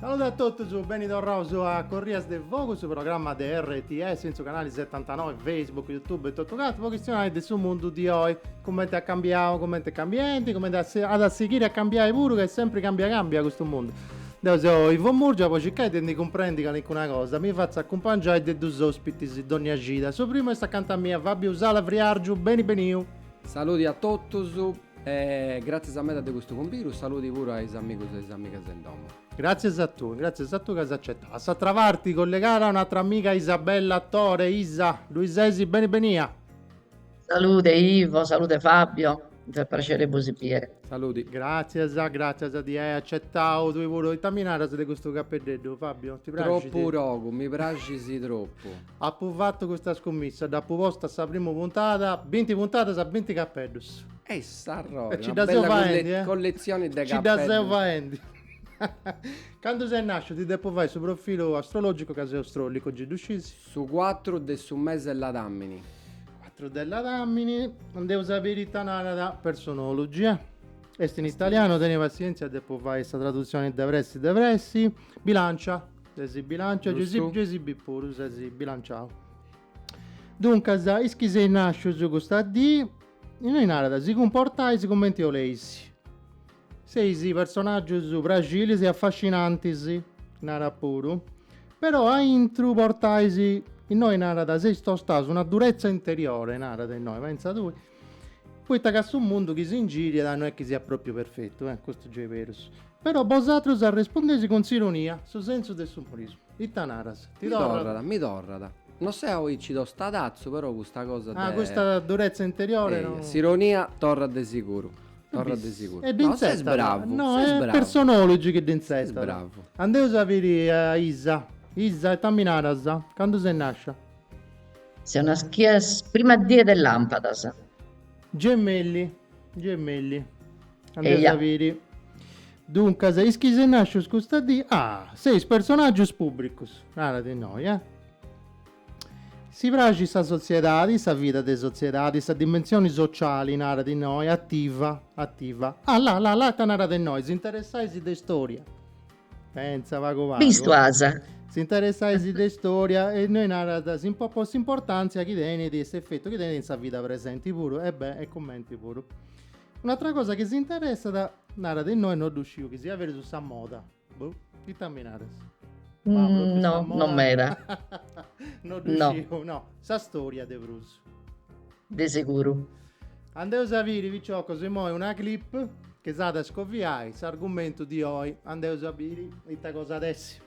Saludi a totus, beni torraus a Corrias de Fogu, su programma de RTS in su canali 79, Facebook, Youtube e totu cantu, po chistionai de su mundu di oi, cumenti at cambiau, cumenti est cambiendi, cumenti at si- at a sighiri a cambiai puru, ca est sempri cambia cambia custu mundu. Deu seu Ivo Murgia, po circai de ndi cumprendi calincuna cosa, mi fatzu acumpangiai de dus ospitis dònnia cida. Su primu est acanta mia, Fabio Usala Friargiu, beni beniu! Saludi a totus. E gràtzias meda de custu cumbiru, saludi puru a is amigus e is amigas de in domu. Gràtzias a tui, gràtzias a tui ca as acetau. A s'atra parti collegada un'atra amiga Isabella Tore, Isa, ddui sesi? Beni benia! Salude Ivo, salude Fabio, is a praxeri de bosi biere. Saludi. Gràtzias, gràtzias de ai acetau tui puru. Ita mi naras de custu capeddeddu Fabio, ti praxit? Tropu togu, mi praxit tropu. Apu fatu custa scummissa, dd'apu posta a sa prima puntada, binti puntadas, binti capeddus. E s'arrori, e ci dda seu faendi, eh? collezioni de capeddus. Ci dda seu faendi. Candu ses nasciu ti depu fai su profilu astrologicu ca seu strollicu, gei ddu scis? Su cuatru de su mesi 'e ladàmini. Cuatru de ladàmini, andeus a biri ita narat Personology, eh? Est in italianu, teni passièntzia, depu fai sa traduzioni de pressi de pressi. Bilancia. Ses bilancia Giustu. Gei si bit puru, ses bilanciau. Duncas, is chi seis nàscius custa dì, innoi narat, si cumportais cumenti 'oleis. Seis personàgius praxilis e afascinantis, narat puru, però a intru portais, innoi narat, seis tostaus una duretza interiore, narat innoi, pentza tui. Poita ca su mundu chi s'ingiriat no est chi siat pròpiu perfetu, e, custu gei est berus. Però bosatrus arrespondeis cun s'ironia, su sensu de s'umorismu. Ita naras? Ti torrat? Mi torrat. No seu aici tostadazzu, però custa cosa de. Ah, custa durezza interiore no. Eia, s'ironia torrat de siguru. Torrat de siguru. E dd'intzetat. No, ses bravu. No, est Personology chi dd'intzetat. Ses bravu. Andeus a biri a Isa. Isa, ita mi naras? Candu ses nàscia? Seu naschia sa prima die de lampadas. Gemelli, gemelli. Andeus a biri. Duncas, is chi seis nàscius custa dì, ah! seis personàgius pùbricus, narat innoi, eh! Si praxit sa sotziedadi, sa vida de sotziedadi, sa dimensioni sociali, narat innoi, ativa, ativa. Ah, la, la, la, ita narat innoi, s'interessais de istòria. Pentza pagu pagu. Bistu as. S'interessais de istoria e innoi narat si po po s'importantzia chi tenit e s'efetu chi tenit in sa vida presenti puru e beh e cumenti puru. Un'atra cosa chi s'interessat narat innoi no ddu sciu chi siat berus, sa moda. Boh, ita mi naras? No, non meda. No ddu sciu, no. Sa storia de prus. De seguru. Andeus a biri piciocos immoi una clip chi s'at a scoviai s'argumentu di oi, andeus a biri ita cosa at essi.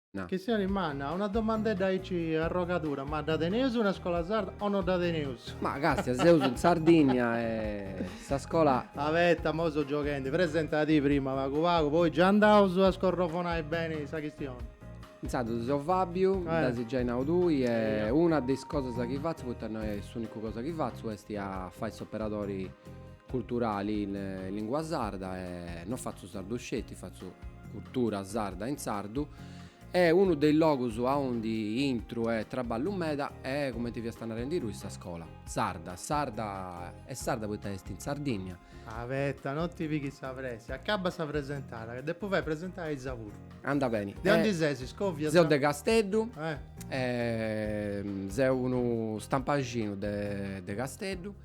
Na. Chistioni manna, una domandedda aici arrogadura, ma dda teneus una scola sarda o no dda teneus? Ma càstia, seus in Sardìnnia e sa scola. Abeta, imoi so gioghendi, presenta ti prima pagu pagu, poi già andaus a scorrofonai beni sa chistioni. Intzandus seu Fàbiu, dd'as giai nau tui, e una de is cosas chi fatzu, poita no est s'ùnicu cosa chi fatzu, est a fai s'operadori. culturali in lingua sarda e non fatzu sardu sceti, fatzu cultura sarda in sardu e unu de is logus aundi intru e traballu meda est cumenti fiasta narendi tui sa scola sarda, e sarda est sarda poita est in Sardinnia. Abetta, non ti pighis sa pressa, acabba sa presentada ca depu fai presentai a issa puru. Anda beni. De ondi ses, scovia? Seu de Casteddu e seu unu stampaxinu de Casteddu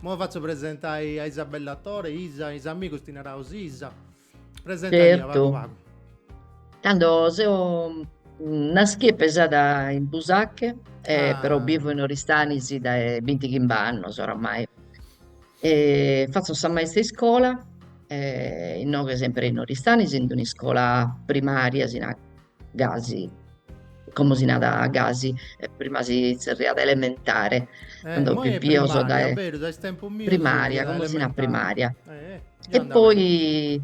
Mo fatzo presentai a Isabella Tore, Isa, is amigos ti naraus Isa. Presenta·ti pagu pagu. Tando seu naschia e pesada in Busache, però bivo in Oristanis dae binti chimba annos oramai. Fatzo sa maista 'e iscola, inoghe sempre in Oristanis, in d'un'iscola primaria, si gasi, como si narat gasi, prima si zerriat elementare, cando fumis pipios, primaria, como si narat primaria, e poi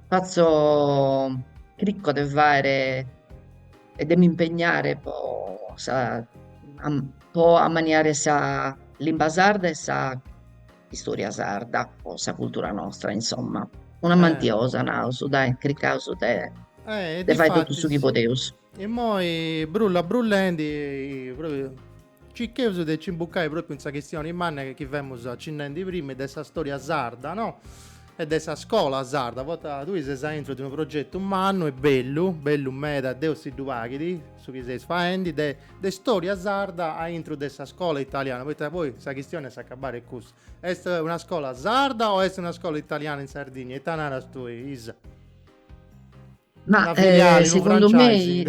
fatzo, chirco de fàere e de mi impegnare po sa po ammaniare sa limba sarda e sa Istòria sarda o sa cultura nostra, insomma. Una mantiosa, naus, dai, cricaus de eh, de fai totu su chi podeus. Immoi, brulla brullendi, propriu circheus de ci imbucai propriu in sa chistioni manna chi femus acinnendi prima de sa stòria sarda, no? e de sa scola sarda, poita tui ses aintru de unu progetu mannu e bellu, bellu meda, deu stimu aici su chi seis faendi, de de storia sarda a intro de sa scola italiana, poita poi sa chistioni est a s'acabbu cussa, est una scola sarda o est una scola italiana in Sardigna, ita naras tui Isa? Ma segundu mei,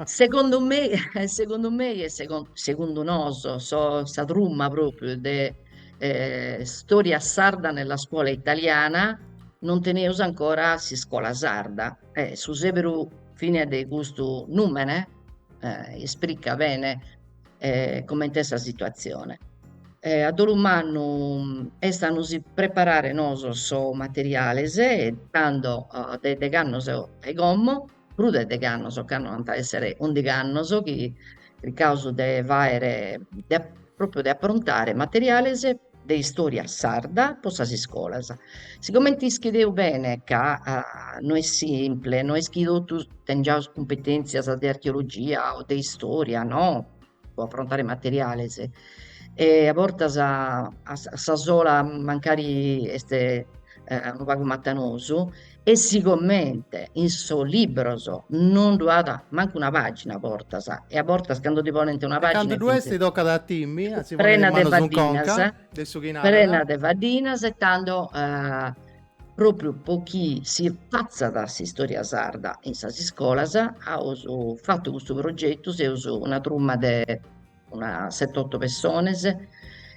segundu mei, segundu mei e segundu nosu sos sa truma propriu de storia sarda nella scuola italiana non teneus ancora s'iscola sarda e su seberu fina de custu nùmene eh, isprica bene eh, comente est sa situazione. Eh, a dolu mannu mm, est a nos preparare noso sos materiales e tando oh, de deg'annos e como, prus de deg'annos, cando ant a essere ùndig'annos chi chircaus de fàere, de, propriu de aprontare materiales de istòria sarda pro sas iscolas. Sigomente ischideus bene ca no est simple, no est chi totus tengiaus cumpetèntzias de archeologia o de istòria no, pro aprontare materiales e a bortas a sa sola mancari est unu pagu matanosu E sigomente in sos libros non ddu at mancu una pàgina a bortas, e a bortas cando ti ponent una pàgina... Cando ddu est tocat a timi, a si ponnere is manos in conca de su chi narat... Prena de faddinas e tando pròpriu pro chi si fatzat s'istòria sarda in sas iscolas aus fatu custu progetu, seus una truma de una sete oto pessones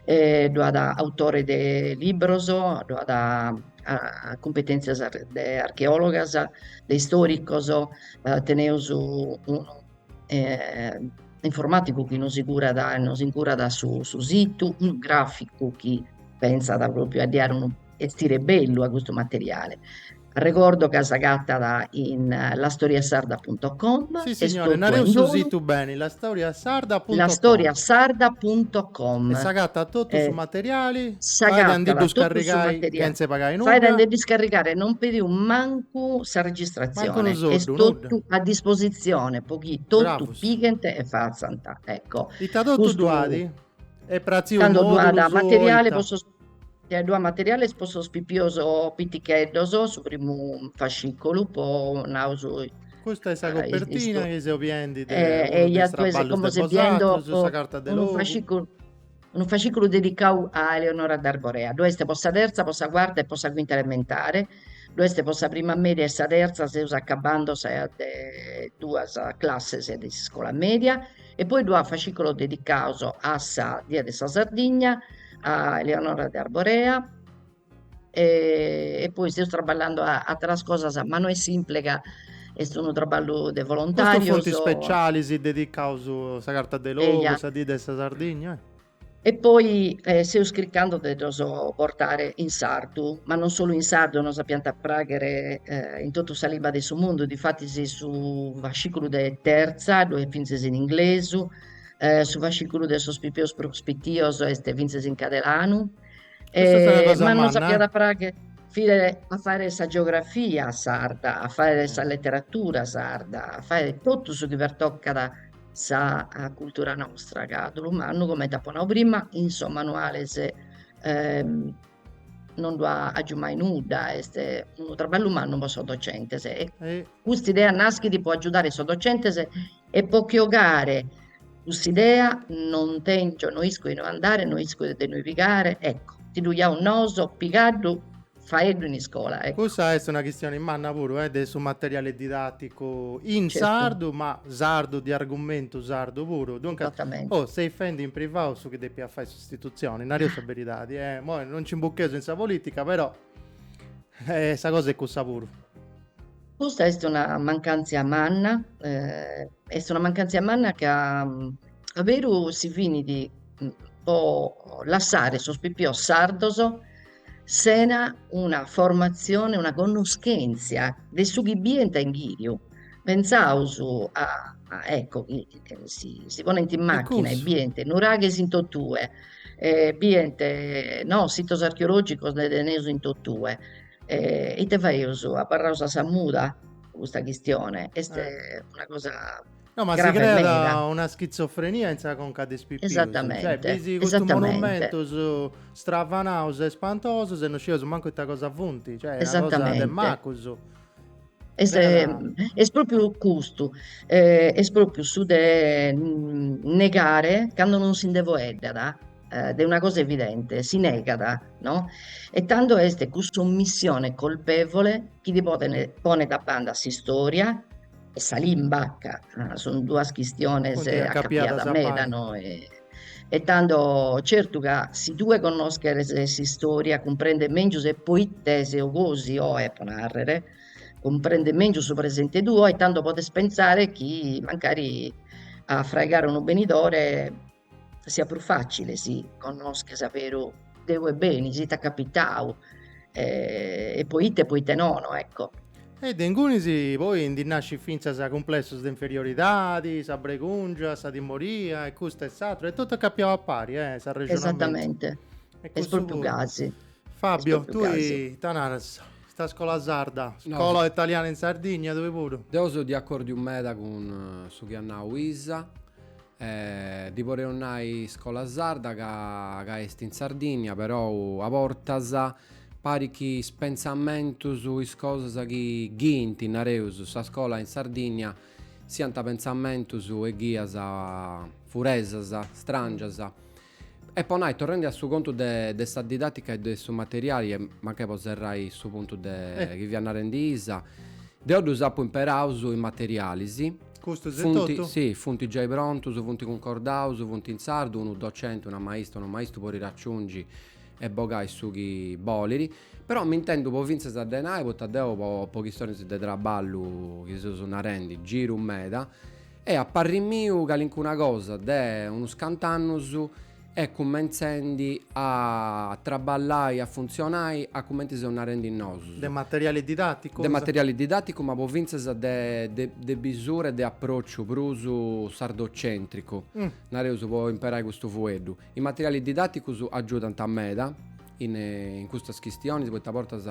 e ddu at autores de libros, ddu at cumpetèntzias de archeòlogas, de istòricos, teneus unu informàtigu chi nos curat e nos incurat su situ, unu gràficu chi pensat pròpriu a ddi dare unu 'estire bellu a custu materiale. Arregordo ca s'agatat in lastoriasarda.com Sì signore, nareus su situ beni, lastoriasarda.com lastoriasarda.com E s'agatat totu su materiali, fait a ndi ddu scarrigai chentze pagai nudda? Faet a nde ddu scarrigare, non pedius mancu sa registratzione, est totu a disposizione po chi totu pighent e fatzant, ecco. Ita totu ddu at? Est pratziu in mòdulus ita? Ddu at, ddu at materiales po sos pipios piticheddos, su primu fascicolu ponaus Custa est sa copertina chi seus biendi de unu de is traballos de bosatros, sa carta de logu. Unu fasciculu dedicau a Eleonora de Arborea, ddu est po sa terza, po sa cuarta e po sa cuinta elementare, ddu est po sa prima media e sa terza, seus acabando sa de duas classes de s'iscola media e poi ddu at fascìculos dedicaus a sa die de sa Sardigna, a Eleonora de Arborea e poi seus traballando a ateras cosas ma no est simple ca est unu traballu de volontàrios. Custos funt specialis dedicaus, sa carta de logu, sa die de sa Sardigna? E poi seus chircando de ddos portare in sardu, ma non solu in sardu, nos ap'ant a pràghere in totu sa limba de su mundu, difatis su fascìculu de Terza ddoi est fintzes in inglesu, su fascìculu de sos pipios prus pitios est fintzes in cadelanu e ma nos ap'at a pràghere fintzes a fàghere sa geografia sarda, a fàghere sa leteratura sarda, a fàghere totu su chi pertocat sa cultura nostra, ca dolu mannu, comente apo nau prima, in sos manuales non ddu at giai mai nudda, est unu traballu mannu po sos docentes e cust'idea naschit po agiudare sos docentes e po che 'ogare cuss'idea non tèngio, no isco a inue andare, no isco de inue pigare, ecco, ti ddu giaus nosu pigaddu faeddu in iscola, ecco. Cussa est una chistioni manna puru, eh, de su materiale didatticu in Certu. sardu, ma sardu di argumentu sardu puru, duncas, Esattamente. oh, seis fendi in privau su chi depiat fai s'istitutzioni, nareus sa beridadi, eh, mo' non nci imbucheus in sa politica, però, eh, sa cosa est cussa puru. Custa est una mancantzia manna, eh, est una mancantzia manna ca a beru si finit po lassare sos pipios sardos sena una formatzione, una connoschèntzia de su chi bient in ghìriu. Pensaus a, ecco, chi si ponent in màchina e bient nuraghes in totue, bient no sitos archeològicos nde teneus in totue, ite faeus? Abarraus a sa muda custa chistione? Est una cosa No, ma si creat una schitzofrenia in sa conca de is pipius. Esattamente. Cioè, bisi custus monumentus stravanaus e spantosus e no scieus mancu ita cosa funti. Cioè, est una cosa de macus. Est, est propriu custu, est propriu su de negare candu non si nde faeddat de una cosa evidente, si negat, no. E tando est cuss'omissione colpevole chi ti ponet, ponet a banda a s'istória e sa limba ca sun duas chistiones acapiadas meda no e tando certu ca si tue connoscheres s'istória cumprendes mèngius e poite ses gosi oe po nàrrere cumprendes mèngius su presente tuo e tando podes pensare chi mancari a fraigare unu benidore Siat prus fàcile si connosches a beru de ue benis, ite at capitau e po ite e po ite nono, ecco. E de ingunis poi ndi nascit fintzas cumplessos de inferioridadi, sa bregùngia, sa timoria e custu e s'atteru e totu acapiau a pari, eh, s'arrexonamentu. Esatamente, est propriu gasi. Fabio, tui ita naras? Custa scola sarda, scola italiana in Sardigna, tui puru? Deu seu de acordiu meda cun su chi at nau Isa, Ddi poreus nai iscola sarda ca ca est in Sardìnnia, perou a bortas parit chi is pentzamentus, is cosas chi ghiant, nareus, sa scola in Sardìnnia siant pentzamentus e ghias furesas, stràngias E po nai, torrendi a su contu de de sa didatica e de su materiali e mancai po serrai su puntu de chi fia narendi Isa, deo ddus apu imperaus is materialis, si, Custus e totu? Funti, si, funti giai prontus, funti cuncordaus, funti in sardu, unu docenti, una maista, unu maistu podit aciungi e bogai su chi boliri, però m'intendu po fintzas de nai, poita deu po po chistionis de traballu chi seus narendi giru meda, E a parri miu calincuna cosa de unus cant'annus est cumentzendi a traballai, a funtzionai a cumenti seus narendi nosus. De materiali didaticus? De materiali didaticus ma po fintzas de de de bisura e de apròciu prus sardocentricu, nareus, po imperai custu fueddu. Is materialis didaticus agiudant meda in custas chistionis poita a bortas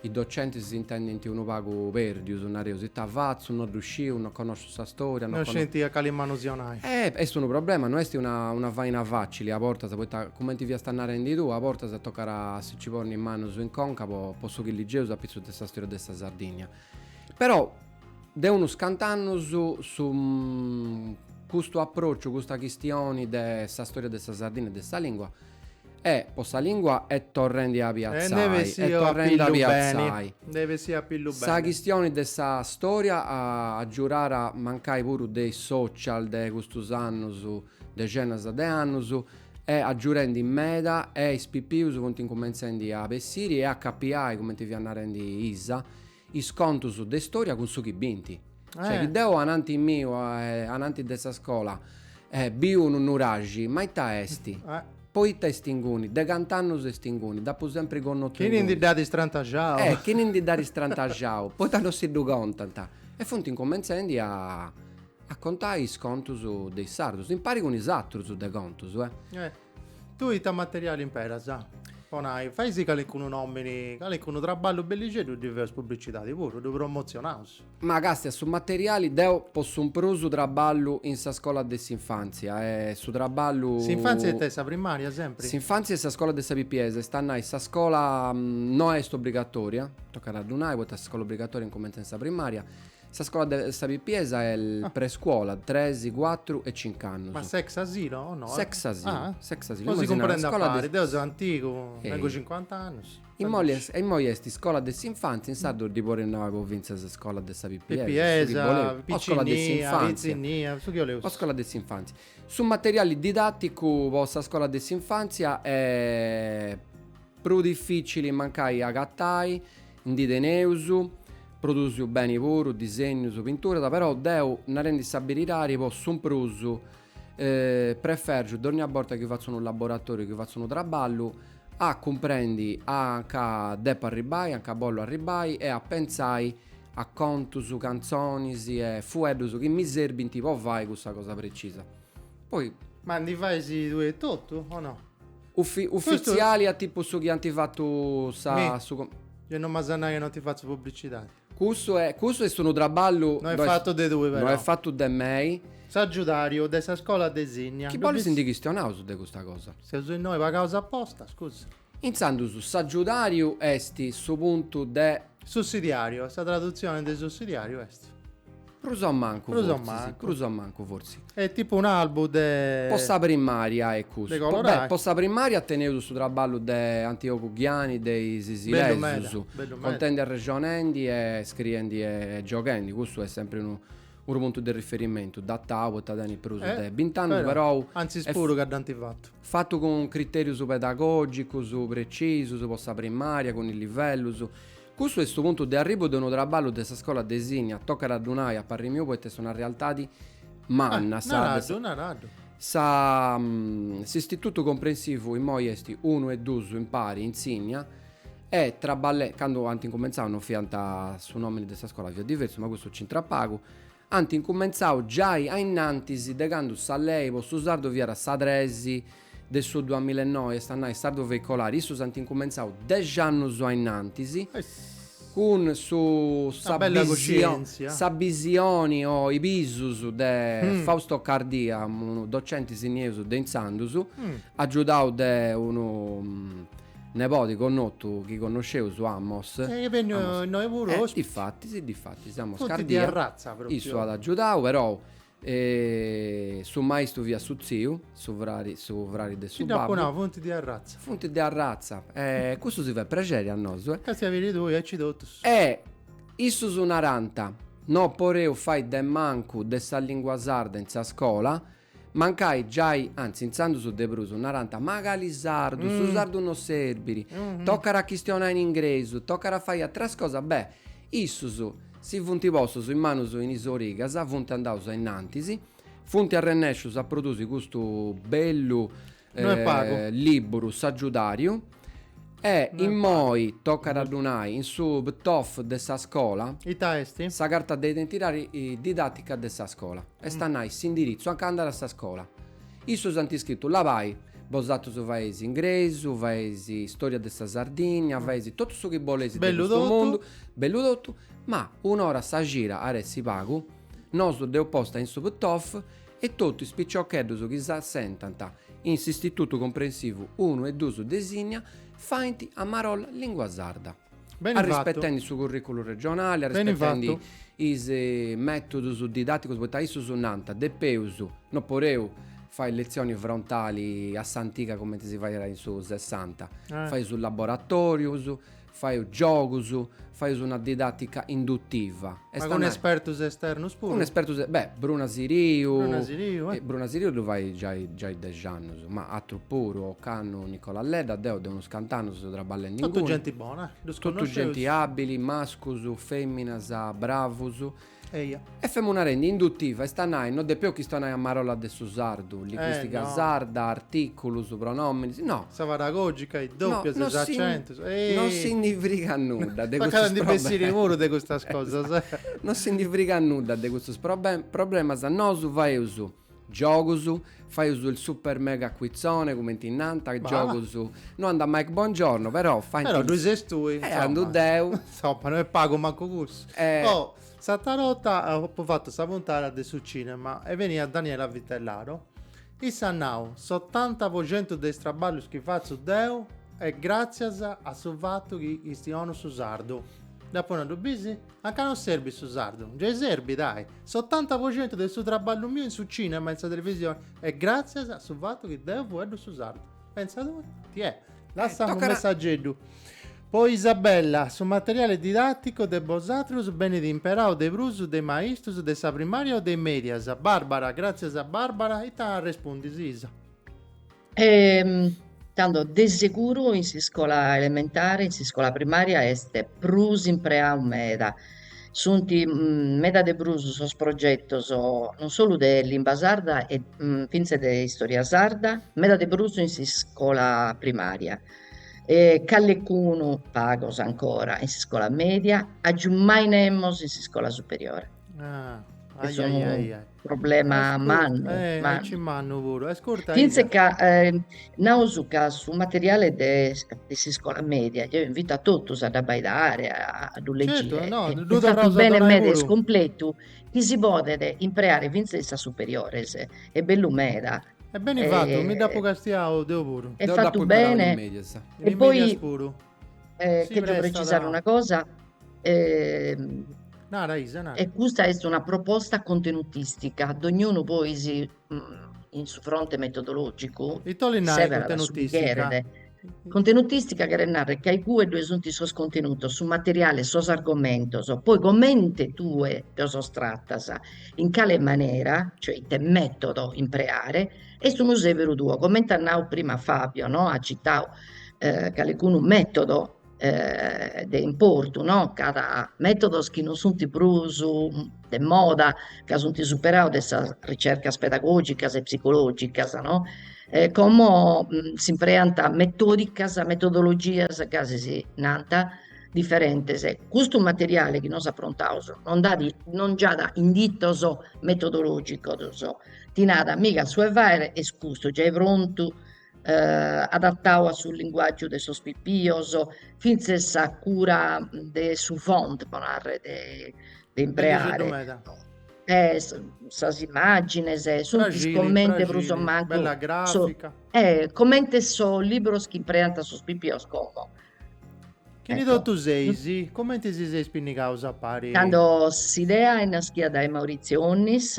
Is docentis si intendint unu pagu pèrdius, nareus ita fatzu, no ddu sciu, no connosciu sa stòria, no scenti a cali manu si donai. Est unu problema, no est una una faina facili, a bortas, poita cumenti fiasta narendi tui, a bortas tocat a si nci ponni is manus in conca po po su chi ligeus apitzus de sa stòria de sa Sardìnnia. Però, de unus cant'annus, su custu aprociu, custa chistioni de sa stòria de sa Sardìnnia e de sa lìngua, E po sa lingua est torrendi a piatzai, est torrendi a piatzai. Nde bessit a pillu beni. Sa chistioni de sa storia at agiurau mancai puru de is social de custus annus, dexenas de annus, est agiurendi meda e is pipius funt incumentzendi a bessiri e a acapiai, cumenti fiat narendi Isa, Is contus de istoria cun su chi bint. Cioè chi deu ananti miu ananti de sa scola biu unu nuraxi, ma ita est? Po ita est inguni? De cant'annus est inguni? Dd'apu sempri connotu Chini ndi dd'at istrantaxau. Eh, chini ndi dd'at istrantaxau. Poita no si ddu contant? E funt incumentzendi a a contai is contus de is sardus, impari cun is atrus de contus, eh. Tui ita materiali imperas? Po nai, faisi calicunu nomini, calicunu traballu bellixeddu ddi feus publicidadi puru, ddu promotzionaus. Ma càstia su materiali deu po su prus traballu in sa scola de s'infantzia e su traballu. S'infantzia ita est sa primaria sempri? S'infantzia est sa scola de is pipius, est a nai sa scola no est obbligatoria, tocat a ddu nai, poita s'iscola obbligatoria incumentzat in sa primaria. Sa scola de sa pipiesa est ah. prescuola, 3, 4 e 5 annus. Ma s'ex asilo o no? S'ex asilo. Ah. S'ex asilo. si cumprendi a pari, de... deu seu antigu, eh. tengu 50 annus. Immoi est scola de s'infanzia, in sardu ddi poreus nai finzas scola de sa pipiesa. Pipiesa, piccinnia, scola de s'infanzia. su chi oleus. O scola de s'infanzia. Su materiali didatticu po sa scola de s'infanzia est Prus difìcili mancai a agatai, ndi teneus, produsiu beni puru, disegnus, pinturas, però deu, narendi sa beridadi, po su prus prefèrgiu dònnia borta chi fatzu unu laboratòriu, chi fatzu unu traballu, a cumprendi a nca depu arribbai, a nca bollu arribbai e a pentzai a contus, cantzonis e fueddus chi mi serbint po fai cussa cosa precisa. Poi. Ma ndi fais tui etotu o no? Uffi- uffiziali a tipu su chi anti fattu sa Mi. su com- Io non m'as a nai ca non ti fatzu pubblicitadi. Cussu e- cussu est unu traballu No est fattu de tui però. no est fattu de mei. S'aggiudariu de sa scola de Sinnia. Chi bolis ndi chistionaus de custa cosa? Seus innoi pagaus aposta, scusa. Intzandus s'aggiudariu est su puntu de Sussidiàriu, sa tradutzione de sussidiàriu est. Prus a mancu fortzis. Prus a mancu. Prus a mancu fortzis. Est tipu un'albu de. Po sa primària est custu. De colorai. Beh, po sa primària teneus su traballu de Antiogu Ghiani de is Isilesus. Bellu meda, bellu meda. Contendi arrexonendi e scriendi e gioghendi, custu est sempri unu unu puntu de riferimentu, datau poita tenit prus de bint'annus, perou. Antzis puru ca dd'ant fatu. Fatu cun critèrius pedagògicus pretzisus po sa primària, cun is livellus. Custu est su puntu de arribu de unu traballu de sa scola de Sinnia, tocat a ddu nai, a parri miu poita est una realtadi manna sa de sa. Naraddu, naraddu. Sa, s'istitutu comprensivu immoi est unu e duus impari in Sinnia e traballe, candu ant incumentzau non fiant, su nomini de sa scola fiat diversu, ma custu nc'intrat pagu, Ant incumentzau giai a innantis de candu sa lei po su sardu fiat sa tres de su duamilla e noi, est a nai sardu veicolari, issus ant incumentzau dexi annus a innantis, cun su sa bisioni sa bisioni o is bisus de Fausto Cardia, unu docenti sinniesu de intzandus, agiudau de unu nebodi connotu chi connosceus, Amos. E chi est benniu innoi puru eh, ospiti. Difatis, difatis, Amos Funt Cardia. Funt de arratza propriu. Issu at agiudau, perou eh, su maistu fiat su tziu, su frari, su frari de su babbu. Gei dd'apu nau, funt de arratza. Funt de arratza. Eh, cussu si fait prexeri a nosu eh. Castia a biri tui, aici totus. Eh, issus narant, no poreus fai de mancu de sa lingua sarda in sa scola, Mancai giai, anzi intzandus de prus, narant, macali sardu, su sardu no serbit, tocat a chistionai in ingresu, tocat a fai ateras cosas, beh, issus si funt postus is manus in is origas, funt andaus ainnantis, funt arrennescius a produsi custu bellu No est pagu. lìburu sussidiàriu. E immoi tocat a ddu nai in su PTOF de sa scola. Ita est? Sa carta de identidadi didatica de sa scola. Est a nai s'indiritzu anca andat sa scola. Issus ant iscritu labai, bosatrus faeis ingresu, faeis storia de sa Sardigna, faeis totu su chi boleis de custu mundu, bellu totu, ma un'ora a sa cida at essi pagu, nosu dd'eus posta in su PTOF, e totu is piciocheddus chi s'assentant in s'Istitutu Comprensivu unu e dus de Sinnia faint a marolla lìngua sarda, arrispetendi su currìculu regionali, arrispetendi is mètudus didàticus, poita issus nant, depeus, no podeus fai letzioni frontali a s'antiga cumenti si faiat in su sessanta, fai su laboratorius, Faeus giogus, faeus una didàtica induttiva. Ma cun espertus esternos puru? Cun espertus, beh, Bruna Siriu. Bruna Siriu, eh. Bruna Siriu ddu fait giai, giai dexi annus, ma atrus puru, ocannu, Nicola Ledda, deu de unus cant'annus seu traballendi inguni. Totu genti bona, eh. Ddus connosceus. Totu genti àbbili, mascus, fèminas, bravus, Eja. E femu narendi, induttiva, est a nai, no depeu chistionai a marolla de su sardu, linguistica sarda, articulus, pronominis, no. Sa paragogica, is dopias, is accentus, ehi. No si ndi frigat nudda de custus problemas. Tocat a ndi bessiri puru de custas cosas. No si ndi frigat nudda de custus problemas, nosu faeus Giogus, faius il super mega quizzone cumenti nant, giogus, no andat Mike Bongiorno però faint Però ddoi ses tui, insomma. E andu deu. Insomma, no est pagu mancu cussu. E... Oh, s'atra borta apu fatu sa puntada de su cinema e beniat Daniela Vitellaro. Issa at nau, setanta po centu de is traballus chi fatzu deu est gràtzias a su fatu chi chistionu su sardu. Dd'apu nau, ddu bisi? Anca non serbit su sardu? Giai serbit, ahi! Setanta po centu de su traballu miu in su cinema e in sa televisioni est gràtzias a su fatu chi deu fueddu su sardu. Pentza tue! Tiè, la' ca est unu messageddu po Isabella, su materiali didàticu de bosatrus benit imperau de prus de maistus de sa primària o de mèdias? Bàrbara, Gràtzias Bàrbara, ita arrespundis Isa? tando de seguru in s'iscola elementare, in s'iscola primaria est prus impreau meda, sunt meda de prus sos progetos non solu de limba sarda e fintzes de istoria sarda, meda de prus in s'iscola primaria e calecunu, pagos ancora, in s'iscola media, agiumai nemos in s'iscola superiore Problema mannu, eh, e mannu. ci mannu puru. Ascolta, Ida. Fintzas ca eh, naus ca su materiale de, de s'iscola media, eo invito a totus a dd'abbaidare, a, a ddu legire, Certo, no, e ddu est fatu torraus a bene donai meda est puru. completu, chi si podet impreare fintzas in sas superiores, est bellu meda, E beni fatu, mi dd'apu Eh, castiau deu puru. est Deu fatu dd'apu imparau in bene, is medias. In e is medias poi puru. Eh, si chègio precisare una cosa. Eh, nara, Isa, nara. E custa est una proposta contenutistica. Dognunu poi si, mm, in su fronte metodologico... E tu li nari contenutistica? Contenutistica cheret nàrrere ca in cue ddue sunt sos contenutos, su materiale, sos argomentos, poi comente tue los tratas, in cale manera, cioè ite metodo impreare, Est unu sèberu tuo, comente at nau prima Fabio no, at citau calicunu mètodu de importu no, ca at mètodos chi non sunt prus de moda, ca sunt superados de sas ricercas pedagogicas e psicologicas no, como s'impreant metodicas, metodologias gasi si nant diferentes, custu materiale chi nosu aprontaus non nd'at non giat inditos metodologicos ti nat mica su 'e fàghere est custu, giai prontu adattadu a su linguàgiu de sos pipios, fintzes sa cura de su font pro narrer de de impreare e sas immàgines sunt comente prus o mancu comente sos libros chi impreant sos pipios como Chini totu seis, comenti si seis pinnigaus a pari? Cando s'idea est naschida dae Maurizio Onnis,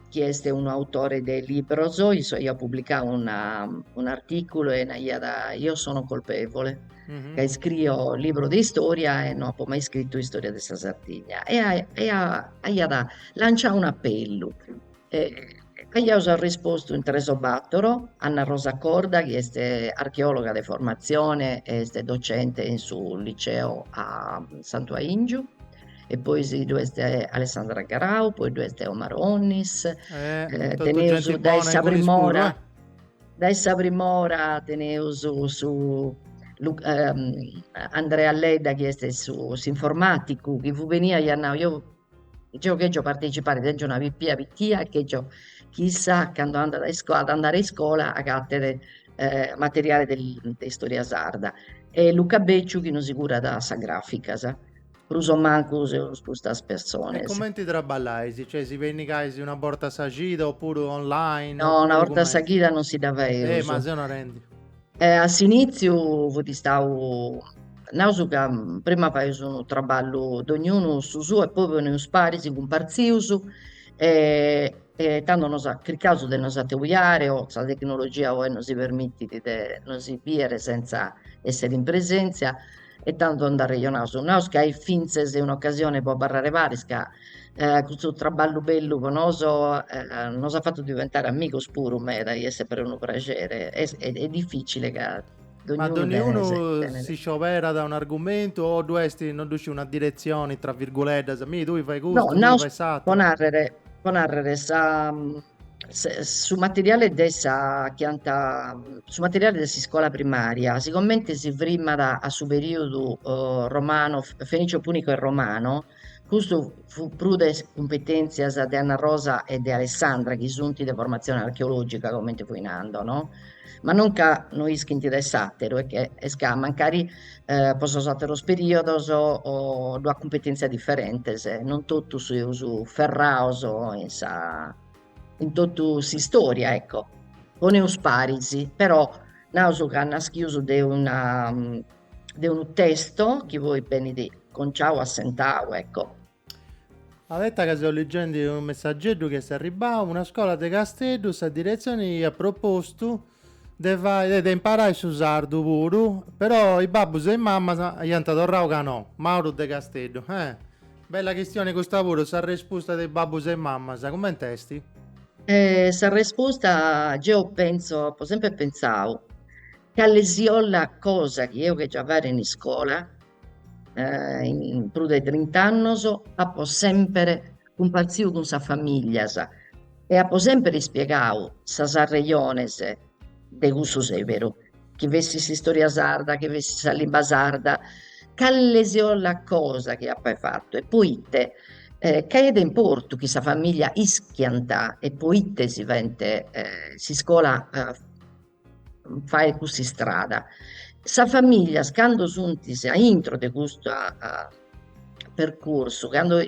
chi est unu autore de libros, issu aiat publicau un'artìculu e naiat, io sono colpevole, ca iscrio libro de istoria e no apo mai iscritu istoria de sa Sardigna e aiat lanciau un'apellu aiaus arrispostu in tres o battoro, Anna Rosa Corda chi est archeologa de formatzione e est docente in su liceo a Santu Aingiu e poi si ddu est Alessandra Garau, poi ddu est Omar Onnis teneus dae sa prim'ora dae sa prim'ora teneus su Andrea Ledda chi est su s'informaticu chi fut benniu aiat nau Deo chègio partecipare, tenzo una pipia pitia e chègio chi issa cando andat a iscola, at a andare a iscola agattet materiale de de istoria sarda e Luca Becciu chi nosi curat sas graficas, prus o mancu seus custas persones. E cumenti traballais? Cioè si pinnigais una borta a sa chida oppuru online? No, una borta a sa chida non si dda faeus. Eh, ma seu narendhi. E a s'inìtziu fut istadu, naus ca prima faius unu traballu dognunu su suu e poi ponimus paris, cumpartzius e tando nos chircaus de nos atobiare o sa tecnologia oe nosi permitit de nos bìdere sentza èssere in presèntzia e tando nd'arrejonaus, naus ca est fintzes un'ocasione pro abarrare paris ca custu traballu bellu pro nois nos at fatu diventare amigos puru meda chi est sempre unu praxere e dificile ca ma doniunu si scioberat un'argumentu o ddu est non ddu sciu una diretzione tra virguleddas, mi tui fai custu, tui fai s'ateru? No, naus po narrer, po narrer sa su materiale de sa chianta, su materiale de s'iscola primaria sicomente si frimat a su periodu romano, fenicio punico e romano, custu fut prus de is cumpetenzias de Anna Rosa e de Alessandra chi sunt de formatzione archeologica comente fui nando no ma non ca no ischint de s'àteru, est ca mancari pro sos àteros perìodos ddue at cumpetèntzias diferentes, non totu seus ferrados in sa in totu s'istòria ecco, poneus paris, però naus ca naschimus de una de unu testo chi poi benit conciadu assentadu ecco Abetta ca seu ligendi unu messageddu chi est arribau, una scola de Casteddu sa diretzioni iat propostu de fai de imparai su sardu puru però is babbus e is mamas iant torrau ca no, Mauru de Casteddu, eh! Bella chistioni custa puru, s'arrespusta de is babbus e is mamas cumenti esti? S'arrespusta geu pentzu, apu sempri pentzau, calesiollat cosa chi apo chèrfiu fàere in iscola in prus de trint'annos apo semper cumpartziu cun sas familias e apo semper ispiegadu sas arrejones de cussu seberu, chi fessit s'istorìa sarda, chi fessit sa limba sarda, cale si 'ollat cosa chi apa fattu e po ite ca est de importu chi sa familia ischiat, e po ite si faghet, e s'iscola faet cussa istrada. Sas familias cando sunt a intro de custu percursu, cando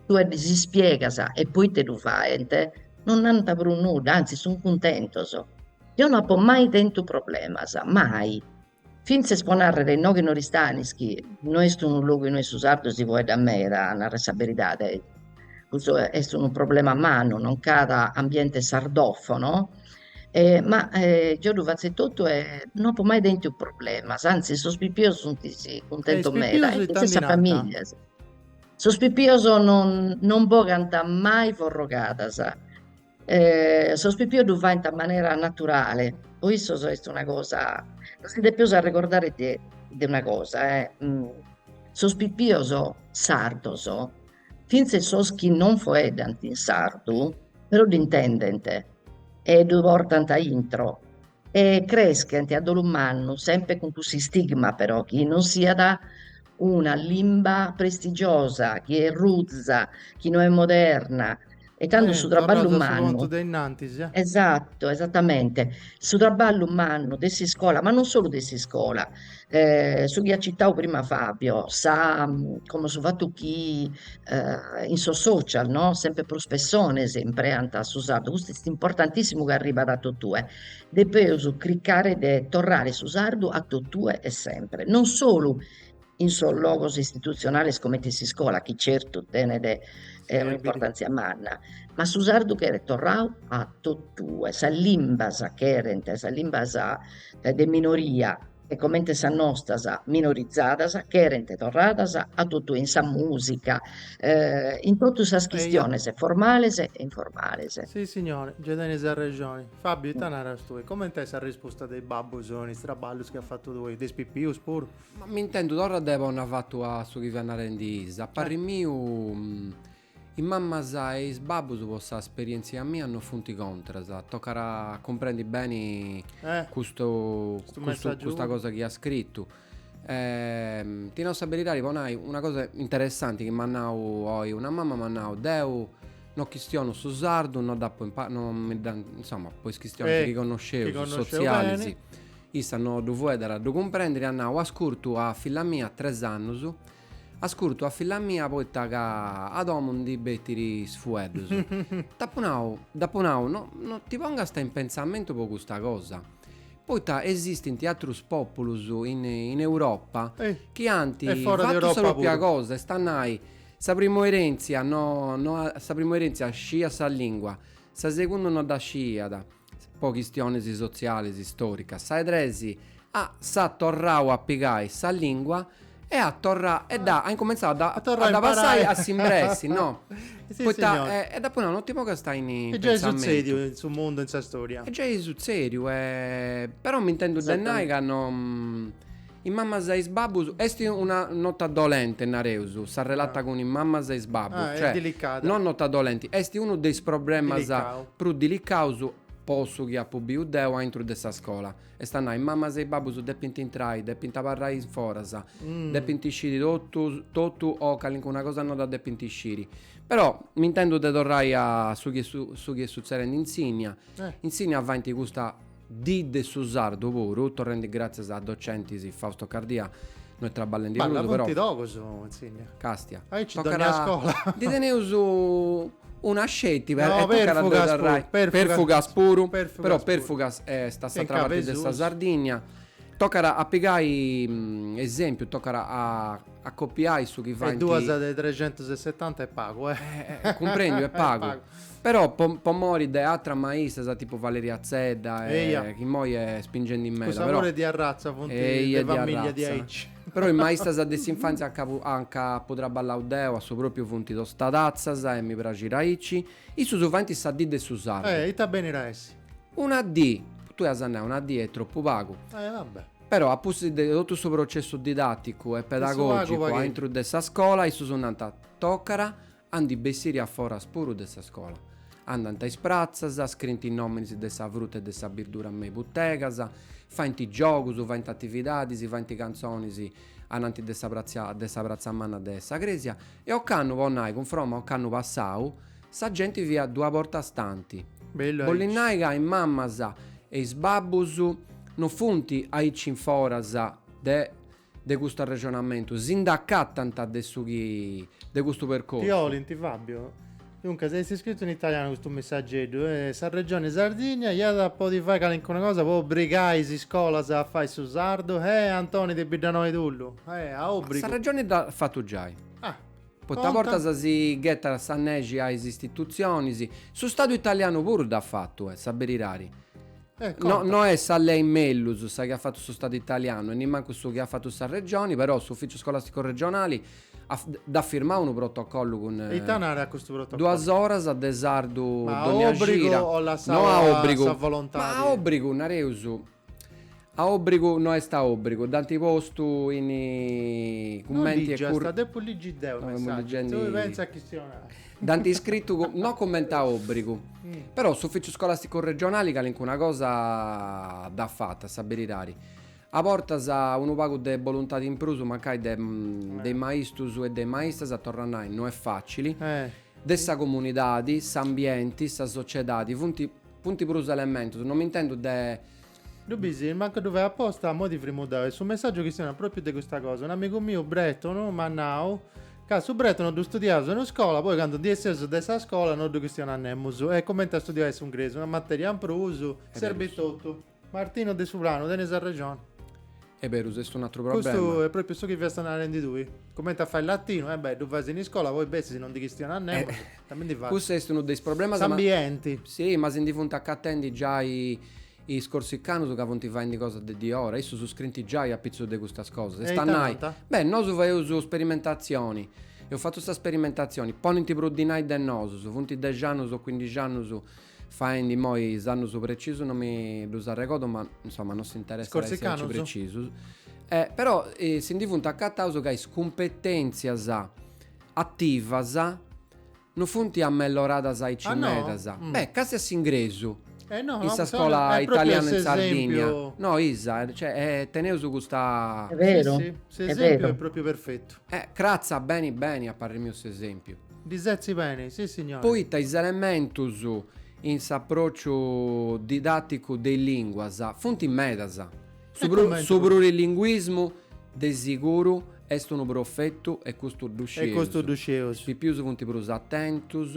tue ddis ispiegas e poite ddu faint, non nant prus nudda, antzis sunt cuntentos, deo no apo mai tentu problemas, mai Fintzes po narrer noche in Oristanis chi no est unu logu inue su sardu si foeddat meda, a narrer sa beridade, custu est unu problema mannu, non ch'at ambiente sardofono e ma geo ddu fatzo e tottu e no apo mai tentu problemas, anzis sos pipios sunt cuntentos meda e fintzes sa famiglia, sos pipios non non bogant mai forrogadas Sos pipios ddu faint in manera naturale, po issos est una cosa, nos si depeus arregordare de de una cosa, sos pipios sardos, finzes sos chi non foeddant in sardu, però dd'intendent e ddu portant a intro e creschent a dolu mannu, sempre cun cussu istigma però chi non siat una limba prestigiosa, chi est ruza, chi no est moderna e tando su traballu mannu, esatto, esattamente, su traballu mannu de s'iscola, ma non solu de s'iscola su chi at citau prima Fabio, sa como su fatu chi in sos social no sempre prus pessones impreant su sardu, custu est importantissimu chi arribat a totue, depeus cricare de torrare su sardu a totue e sempre, non solu in sos logos istituzionales comente in s'iscola chi certu tenet un'importantzia manna, ma su sardu cheret torrau a totue, sas limbas cherent, sas limbas de minoria e comente sas nostras minorizadas cherent torradas a totu in sa musica in totu sas chistiones formales e informales. Si signore, ge tenis arrexoni. Fabio, ita naras tui? Comenti est sa risposta de is babbus in is traballus chi as fatu tui? De is pipius puru? Ma m'intendu torra de ponni a fatu a su chi fiat narendi issa, a parri miu, Is mammas e is babbus po sa sperientzia mia no funt contras, tocat a cumprendi beni custu custa cosa chi at scritu. Ti nau sa beridadi po nai una cosa interessanti chi m'at nau oi una mamma m'at nau, deu no chistionu su sardu, no dd'apu impa no mi dda insoma po is chistionis chi connosceus sotzialis issa no ddu fueddara ddu cumprendiri at nau, ascurtu a filla mia tres annus Ascurtu a filla mia poita ca a domu ndi betit is fueddus. T'apu nau, dd'apu nau, no, no ti pongast in pentzamentu po custa cosa. Poita esistint atrus populus in, in Europa chi ant fatu sa propria cosa, e fora de Europa puru, est a nai, sa primu erentzia no, no a, sa primu erentzia sciiat sa lingua, sa segundu no dda sciiat, po chistiones sotziales istòricas, sa 'e tres a s'at torrau a pigai sa lìngua e at torrau e dd'at incumentzau a dda passai a s'imbressi no poita e dd'apu nau non ti pongast in in pentzamentu. Est giai sutzediu in su mundu in sa storia. Est giai sutzediu però m'intendu de nai ca no Is mammas e is babbus, est una nota dolente nareus, s'arrelata cun is mammas e is babbus, cioè, no nota dolenti, est unu de is problemas prus dilicaus po su chi apu biu deu aintru de sa scola, est a nai, is mammas e is babbus depint intrai, depint abarrai in foras, depint sciri totu totu o calincuna cosa no dda depint sciri, però m'intendu de torrai a su chi est su chi sutzedit in Sinnia, in Sinnia faint custa Dì de su sardu puru, torrendi gràtzias a docentis Fausto Cardia, no est traballendi prus, però. Balla, funt togus, in Sinnia. Castia. Aici tocat dònnia scola. Ndi teneus una sceti, però. No, Perfugas puru. Perfugas puru. Però Perfugas est a s'atra parti de sa Sardigna. Tocat a pigai esempiu, tocat a copiai su chi faint. E duas de trecentus e setanta est pagu, eh. Cumprendiu, est pagu. Però po po mori de atras maistras tipu Valeria Zedda e Eia. chi immoi est spingendi meda però po mori de arratza funt Eia de de famìllia arratza. diaici. Però is maistras de s'infantzia nca fu nca apu traballau deu a su pròpriu funt tostadatzas e mi praxit aici. Issus faint sa dì de su sardu. Eh, ita benit a essi. Una dì, tui as nau una dì est tropu pagu. Eh, va bè. Però a pustis de totu su processu didàticu e De su pagu pedagògicu pagu. aintru de sa scola issus nant, toccara A ndi bessiri a foras puru de sa scola. Andant a is pratzas, scrint is nominis de sa fruta e de sa birdura me i butegas, faint giogus, faint atividadis, faint cantzonis, anant de sa pratza manna de sa cresia e ocannu, po nai, cunfroma ocannu passau, sa genti fiat dua bortas tanti. Bollit nai ca is mammas e is babbus no funt aici in foras de De custu arrexonamentu si nd'acatant de su chi de custu percorsu. Ti ligiu Fabio? Duncas est iscritu in italianu custu messageddu e sa Regioni Sardigna iat a podi fai calincuna cosa po obrigai is iscolas a fai su sardu? Eh Antoni de Biddanoa 'e Tulu, eh, a obrigu. Sa Regioni dd'at fatu giai. Ah. Poita a bortas si ghetat sa nexi a is istitutzionis, su Stadu italianu puru dd'at fatu, a sa berirari. Eh, no, conta. no est sa lei mellus sa chi at fatu su Stadu italianu e nimancu su chi at fatu sa Regioni, però s'Ufìciu Scolàsticu Regionali at, dd'at firmau unu protocollu cun, E ita narat custu protocollu? duas oras de sardu Ma a dònnia òbrigu cida, o lassau no a a òbrigu, sa ma a volontadi? òbrigu, nareus, a òbrigu no est a òbrigu, dd'ant postu in No cumenti e liggiu, est cur- a depu liggi deu no, amus messaggiu, legendi- tui pensa a chistionai. Dd'ant iscritu no cumenti a òbrigu, però s'Ufìciu Scolàsticu Regionali calincuna cosa dd'at fata, a sa berirari. A bortas unu pagu de boluntadi in prus mancai de de is maistus e de is maistas, torru a nai, no est fàcili, de sa comunidadi, s'ambienti, sa sociedadi, funt funt prus elementus, no m'intendu de Ddu bisit, mancu ddu fait aposta, a modi frimudau. E su messàgiu chistionat pròpiu de custa cosa. Un amigu miu bretonu m'at nau ca su bretonu ddu studiaus in iscola, poi candu ndi esseus de sa scola no ddu chistionat nemus. Est cumenti a studiai s'ingresu, una matèria in prus, serbit totu. Martino De Suprano, tenis arrexoni. Est berus, est un'atru problema. Custu est pròpiu su chi fiasta narendi tui. Cumenti a fai latinu, e beh, ddu fais in iscola, poi bessis e non ddu chistionat nemus, cumenti ndi fais? Custu est unu de is problemas, ma. S'ambienti. Si, ma si ndi funt acatendi giai is corsicanus ca funt faendi cosa de diora, issus iscrint giai apitzus de custas cosas, est a nai. Beh, nosu faeus sperimentatzioni, eus fatu sa sperimentatzioni, ponint prus dinai de nosus, funt dexi annus o cuindixi annus faendi immoi is annus precisus non mi ddus arregodu ma insoma non s'interessat a essi aici precisus. E, però si ndi funt acataus ca is cumpeténtzias ativas non funt amelloradas aici meda. Beh, casi a s'ingresu, in sa scola italiana in Sardigna. No, Isa, cioè teneus custa. Est beru, est beru. S'esempiu est propriu perfetu. Cratza beni beni a parri miu s'esempiu. Ddi setzit beni, sissignori. Poita is elementus in s'apròciu didàticu de is lìnguas funt medas. Su prurilinguismu de siguru est unu profetu e custu ddu scieus. Is pipius funt prus atentus,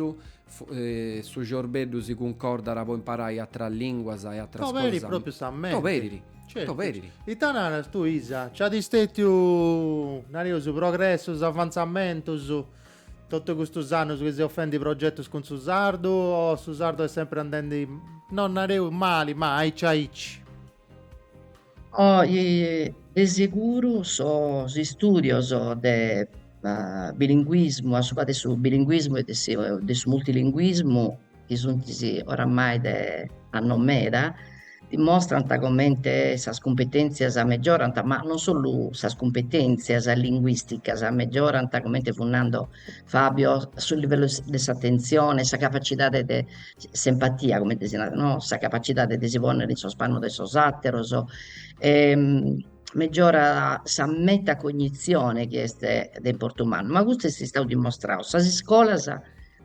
su ciorbeddu si cuncordat po imparai atras lìnguas e atras cosas. T'oberit pròpriu sa menti. T'oberit, t'oberit. Ita naras tui Isa? Nc'at stètiu, nareus, progressus, avantzamentus? Totu custus annus chi seus fendi progetus cun su sardu o su sardu est sempri andendi, no nareus mali, ma aici aici? Oh, de seguru sos istùdios de bilinguismu, subra de su bilinguismu e de su multilinguismu, chi sunt oramai de annos meda, dimostrant comente sas cumpetèntzias megiorant, ma non solu sas cumpetèntzias linguìsticas megiorant, comente fut nando Fabio, su livellu de s'atentzione, sa capacidade de s'empatia, comente si narat no, sa capacidade de si pònnere in sos pannos de sos àteros e megiorat sa metacognizione chi est de importu mannu, ma custu est istadu dimostradu, sas iscolas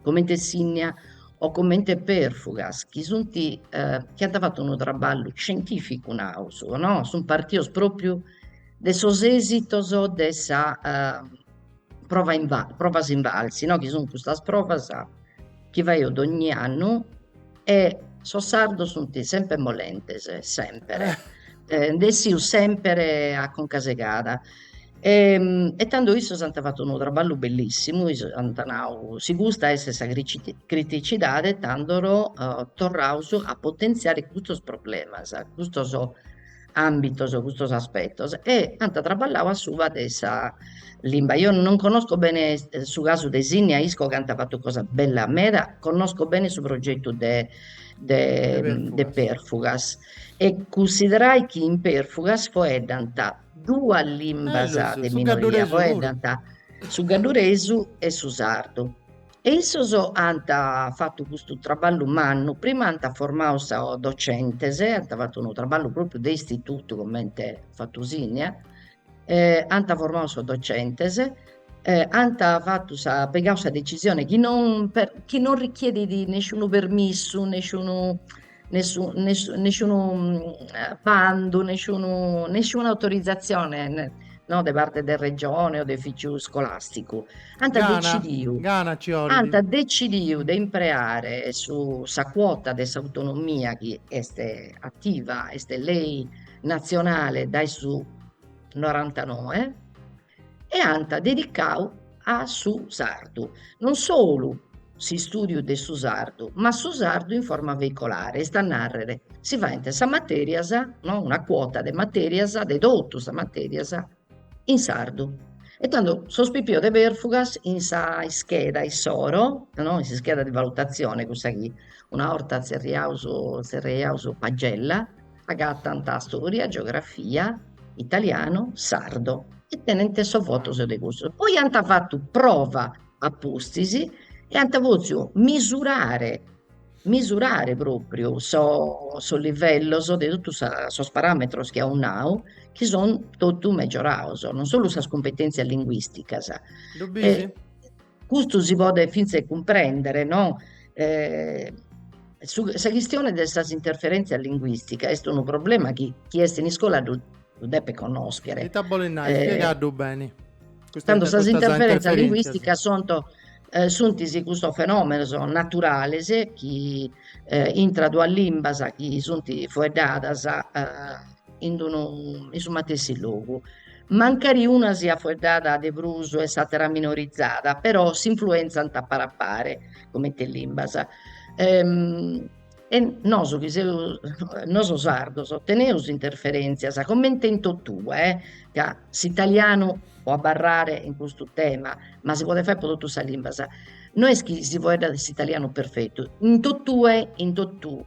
comente Sinnia o comente Perfugas chi sunt eh, chi ant fatu unu traballu scientificu naus no? sunt partidos propriu de sos esitos de sa eh prova inva provas invalsi no? chi sun custas provas chi faeus dogni annu E sos sardos sunt semper molentes, semper, nde essius semper a conca segada. E tando issos ant fatu unu traballu bellissimu, issos ant nau, si custa est sa criticidade tando torraus a potentziare custos problemas, custos ambitos custos aspettos e ant traballau a suba de sa limba, eo non connosco bene su casu de Sìnnia, isco chi ant fattu cosas bellas meda, connosco bene su progettu de de de Perfugas e cunsiderai chi in Perfugas foeddant duas limbas de minoria, foeddant su gadduresu e su sardu E issos ant fatu custu traballu mannu, prima ant formau sos docentes, ant fatu unu traballu propriu de istitutu comente at fatu Sìnnia, ant formau sos docentes ant fatu sa pigau sa decisione chi non chi non richiedit nesciunu permissu, nesciunu nessu, nessu, nesciunu bandu, nesciunu, nesciuna autorizzazione no, de parte de Regione o de ufìciu scolasticu. Ant Gana, decidiu, gana ci bolit. ant decidiu de impreare su, sa cuota de s'autonomia chi est ativa, est lei natzionale dai su norantanoe, e ant dedicau a su sardu, non solu s'istùdiu de su sardu, ma su sardu in forma veicolare, est a nàrrere, si faent sas matèrias, no una cuota de matèrias, de totu sas matèrias in sardu. E tando sos pipios de Perfugas in s'ischeda issoro, no in s'ischeda de valutazione cussa chi una 'orta tzerriaus tzerriaus pagella Agatant stòria, geografia, italianu, sardu e tenent sos votos de custos. Poi ant fatu prova a pustis e ant pòziu misurare misurare pròpriu sos livellos de totu sos paràmetros chi aus nau chi son totu mejorados, non solu sas cumpetèntzias linguìsticas Custu si podet fintzes cumprèndere, no? sa chistione de sas interferèntzias linguìsticas est unu problema chi chie est in iscola ddu depet connòschere. Ita bolet nai? Spiegaddu beni. Tando sas interferèntzias linguìsticas sunt suntis custos fenòmenos naturales chi intra duas limbas chi sunt foeddadas in unu in su matessi logu Mancari una siat fueddada de prus e s'àtera minorizada, però s'influentzant a pari a pari, comente limbas. E nosu chi seus, nosu sardos, teneus interferèntzias, comente in totue, ca s'italianu po abarrare in custu tema, ma si podet faer po totu sas limbas, no est chi si foeddat s'italianu perfetu, in totue, in totu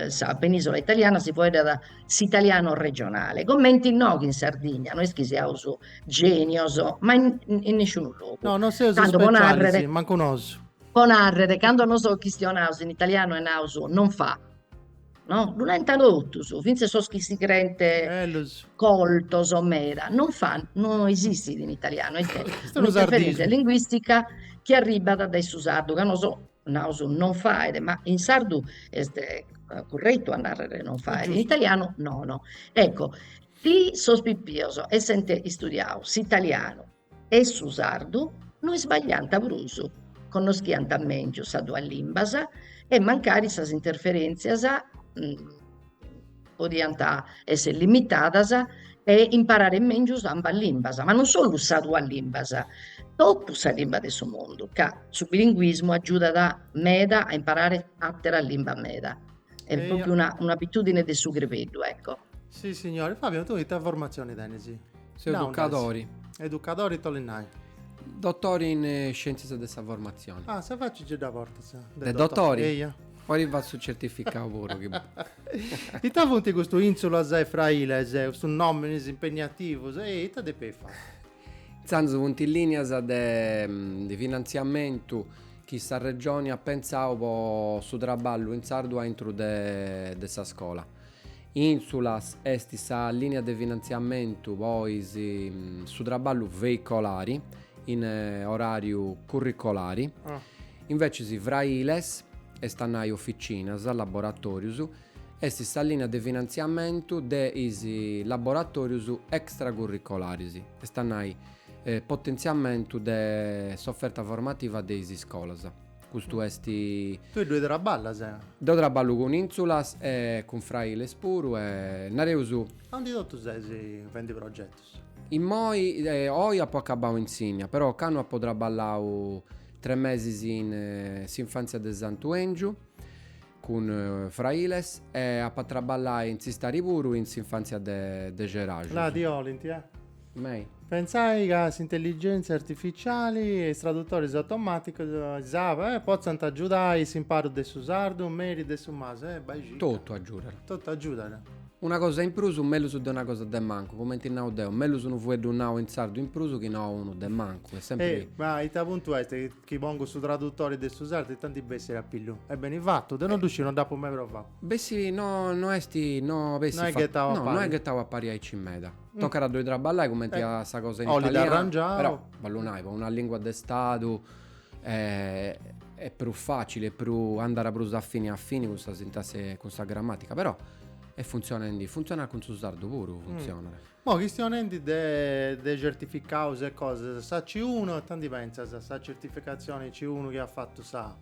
sa penisola italiana si foeddat s'italiano regionale, comente inoghe in Sardigna, no est chi siaus genios, ma in in nisciunu logu. No, non seus tantu specialis, mancu nosu. po narrer, cando nos chistionaus in italianu e naus non fa, no, ddu nenta totus, fintzes sos chi si creent Bellus. coltos meda, non fa no esistit in italianu, est Est unu un'interferentzia sardismu. linguistica chi arribbat dae su sardu ca nosu naus non faet, ma in sardu est curretu a narrer non faet, in italianu nono. Ecco, si sos pipios essent istudiadu s'italianu e su sardu no isbagliant prus, connoschiant mèngius sas duas limbas e mancari sas interferèntzias podiant esser limitadas e imparare mèngius ambas limbas, ma non solu sas duas limbas, totu sas limbas de su mundu, ca su bilinguismu agiudat meda a imparare àteras limbas meda, est pròpiu una un'abitùdine de su crebeddu, ecco. Si signore, Fabio tui ita formatzioni tenis? Seu educadori. Educadori ita 'olit nai? Dotori in scièntzias de sa formatzione. Ah, sa faci ge dda portas de dotori? Eia Poi fait su certificau puru chi. Ita funt custu Insulas e Frailes, custus nominis impegnativus e ita depint fai? Intzandus funt is linias de de finantziamentu chi sa Regioni at pentzau po su traballu in sardu aintru de de sa scola. Insulas est sa linia de finantziamentu po is su traballu veicolari in orariu curricolari. Invecis Frailes, est a nai oficinas, laboratòrius, est sa lìnia de finantziamentu de is laboratòrius extracurricolaris, est a nai potentziamentu de s'oferta formativa de is iscolas. Custu est. Tui ddoi traballas? Deu traballu cun Insulas e cun Frailes puru e nareus. Aundi totu ses fendi progetus? Immoi, oi apo acabau in Sinnia, però ocannu apo traballau tres mesis in s'infantzia de Santu 'Engiu cun Frailes e apo a traballai in s'istari puru in s'infantzia de de Ceraxus. Là ti 'olint, eh? Mei. Pentzais ca s'intelligèntzia artificiali e is tradutoris automàticus is app. Eh, potzant agiudai s'imparu de su sardu, meri de su masu, eh, b'aixit. Totu agiudat. Totu agiudat. Una cosa in prus, mellus de una cosa de mancu, cumenti nau deu, mellus unu fueddu nau in sardu in prus chi no unu de mancu, est sempri. E, ma su puntu est chi pongu su tradutori de su sardu e ita 'ndi bessit a pillu? Est beni fatu, deu non ddu sciu, non dd'apu mai provau. Bessit no est, no bessit fatu. No est ghetau a pari. No, no est ghetau a pari aici meda. Tocat a ddoi traballai cumenti a sa cosa in italianu. Oli dd'arrangiau. Però, balla nai, po una lingua de stadu. Est prus facili e podis andai prus a fini a fini cun sa sintasi e cun sa gramatica però est funzionendi, funzionat cun su sardu puru funzionat. Immoi chistionendi de de certificaus e cosas, sa C-unu ita 'ndi pentzas sa certificatzioni C-unu chi at fatu sa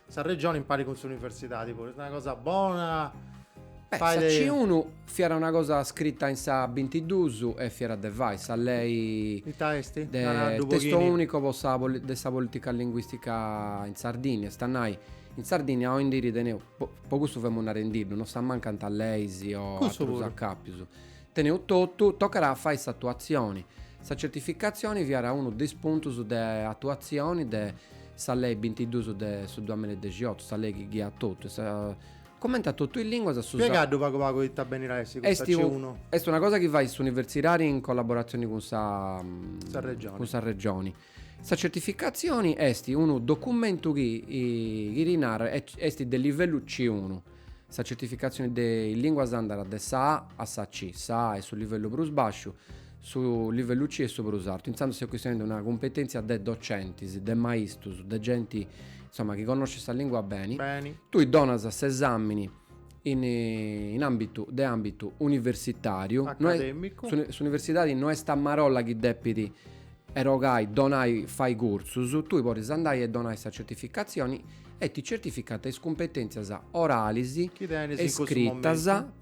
sa regioni impari cun s'universidadi puru est una cosa bona? Beh sa C-unu Fiat una cosa scrita in sa bintiduus e fiat de fai sa lei Ita est? de Naraddu testo Boghini. unico po sa de sa politica linguistica in Sardinnia, est a nai, in Sardinnia oi in diri teneus, po po custu femus narendiddu, non s'ammancant leis o Cussu atrus puru. accapius, teneus totu, tocat a fai s'atuatzioni. Sa certificatzioni fiat unu de is puntus de atuatzioni de sa lei bintiduus de su duamilla e dexiotu, sa lei chi ghiat totu e sa Comenti a totu is lìnguas a su sardu. Spiegaddu pagu pagu ita benit a essi custa C-unu. Est una cosa chi fait s'universidadi in collaboratzioni cun sa. Sa Regioni. Cun sa Regioni. Sa certificatzioni est unu documentu chi chi ti narat est de livellu C-unu. Sa certificatzioni de is lìnguas andat de sa A a sa C. Sa A est su livellu prus bàsciu. Su livellu C est su prus artu, intzandus s'est chistionendi de una cumpetèntzia de docentis, de maistus, de genti insoma chi connoscit sa lìngua beni. Beni. Tui donas s'esàmini in in àmbitu de àmbitu universitàriu. Acadèmicu. Su s'universidadi no est a marolla chi depit erogai, donai, fai cursus, tui podis andai e donai sa certificatzioni e ti certificant is cumpetèntzias oralis e scritas. Chi tenis in cussu momentu.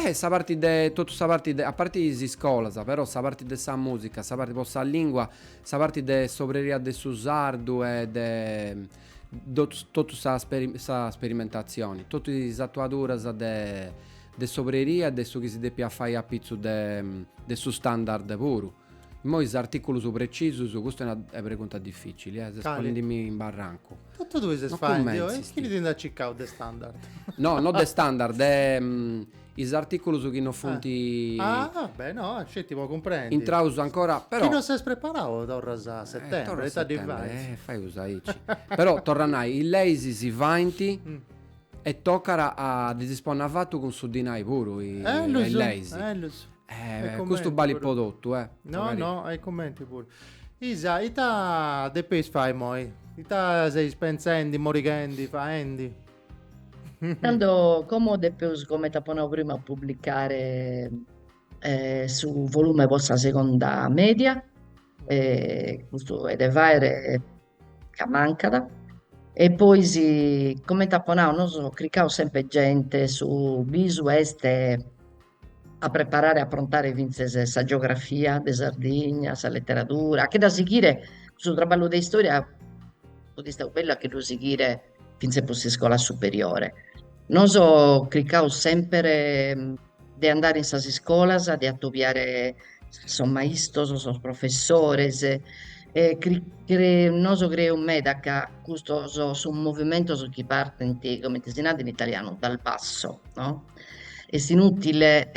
E sa parti de totu sa parti de a parti is iscolas però sa parti de sa musica sa parti po sa lingua sa parti de s'obreria de su sardu e de totu totu sa sa sperimentatzioni totu is atuaduras de de s'obreria e de su chi si depiat fai apitzus de de su standard puru Immoi is artìculus precisus, custa est una pregunta dificili, eh, ses ponendimi in barrancu. Totu tui ses faendi, oh, e chini ti nd'at cicau de standard? No, no de standard, est de is artìculus chi no funt, Ah, beh, no, sceti po cumprendi. intraus ancora, però. Chi no ses preparau torras a setembri, torrat a ita ddi setembri, faint? eh, faius aici. Però, torru a nai, is leis si faint e tocat a ddis si ponni afatu cun su dinai puru, Eh, a is leis. eh, ddus. Eh, custu balit po totus, eh. No, no, e cumenti puru. Isa, ita depeis fai moi? Ita seis pentzendi, morighendi, faendi? Tando, como depeus, comente apo nau prima, a publicare su volume po sa segonda media, custu est de faere ca mancat, e pois, comente apo nau, nosu chircaus sempre gente, su bisu est a preparare e a aprontare fintzes sa geografia de Sardigna, sa letteradura, che dda sighire, su traballu de istoria fut istadu bellu a che lu sighire fintzes pro s'iscola superiore. Nos chircaus semper de andare in sas iscolas de atobiare sos maistos, sos professores e noso creus meda ca custos sun movimentos chi partent comente si nant in italianu dal basso no, est inutile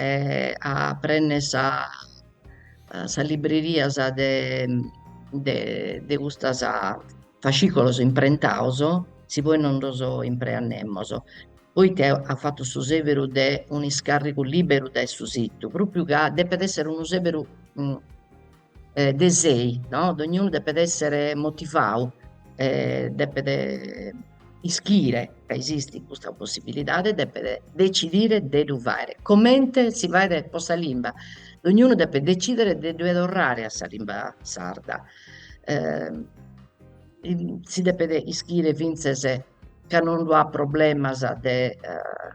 a prenner sa sas librerias de de de custas Fascìcolos imprentados, si poi non los impreamus. Poita at fatu su sèberu de un'iscàrrigu lìberu dae su situ, pròpiu ca depet èssere unu sèberu de sei, no, dognunu depet èssere motivadu, depet ischire ca esistit custa possibilidade e depet decidire de ddu fàghere, comente si faghet po sa limba, dognunu depet decidere de ddue torrare a sa limba sarda si depet ischire fintzes ca non ddu'at problemas de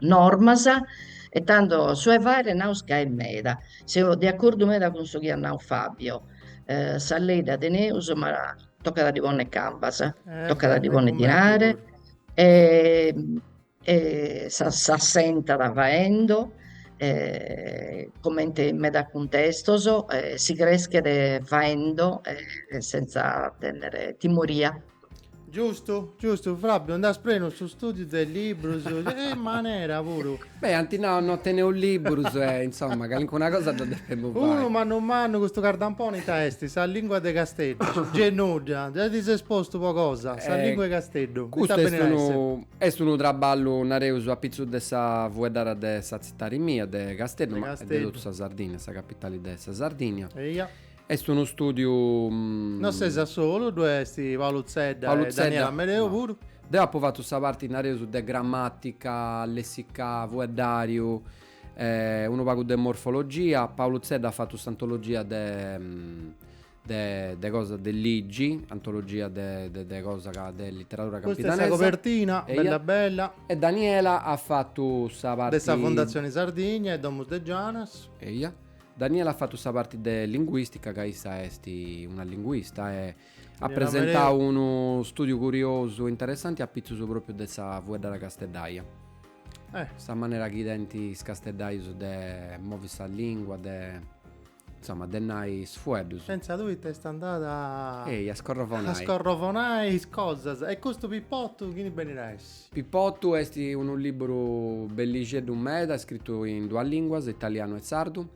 normas e tando su 'e fagher naus ca est meda, seu de accordu meda cun su chi at nadu Fabio, sa lei dda teneus ma tocat a ddi ponner cambas, tocat a ddi ponner dinare e E s'assentat faendo comente in medas cuntestos, si creschet faendo sentza tènnere timoria. Giustu, giustu, Fabio, nd'as prenu su stùdiu de liburus a manera puru. Beh, ant nau no teneus liburus e, insoma, calincuna cosa dda depemus fai. Unu mannu mannu custu cardamponi ita est? Sa lìngua de Casteddu. Gei nudda, gei ti ses postu po cosa, sa lìngua 'e Casteddu. Custu est unu Est unu traballu, nareus, a pitzus de sa fueddara de sa tzitadi mia, de Casteddu, ma est de totu sa Sardìnnia, sa capitali de sa Sardìnnia. Eia. Est unu stùdiu. No ses a solu, ddu est Paulu Zedda e Daniela Amedeo puru. Deu apu fatu sa parti, nareus, de gramàtica, lèssicu, fueddàriu, e unu pagu de morfologia, Paulu Zedda at fatu s'antologia de. de cosa de ligi, antologia de cosa de literadura campidanesa. Custa est sa cobertina, bella bella. E Daniela at fatu sa parti. De sa Fondatzioni Sardigna e Domus de Janas. Eia. Daniela at fatu sa parti de linguistica ca issa est una linguista e at presentau unu studiu curiosu e interessanti apitzus propriu de sa fueddada casteddaia. Sa manera chi tenint is casteddaius de movi sa lingua, de. Insomma, de nai is fueddus. Sentza tui ita est andada. Ehi, a scorrovonai. A scorrovonai is cosas. E custu Pippottu chini benit a essi? Pippottu est unu libburu bellixeddu meda, scritu in duas linguas, italianu e sardu,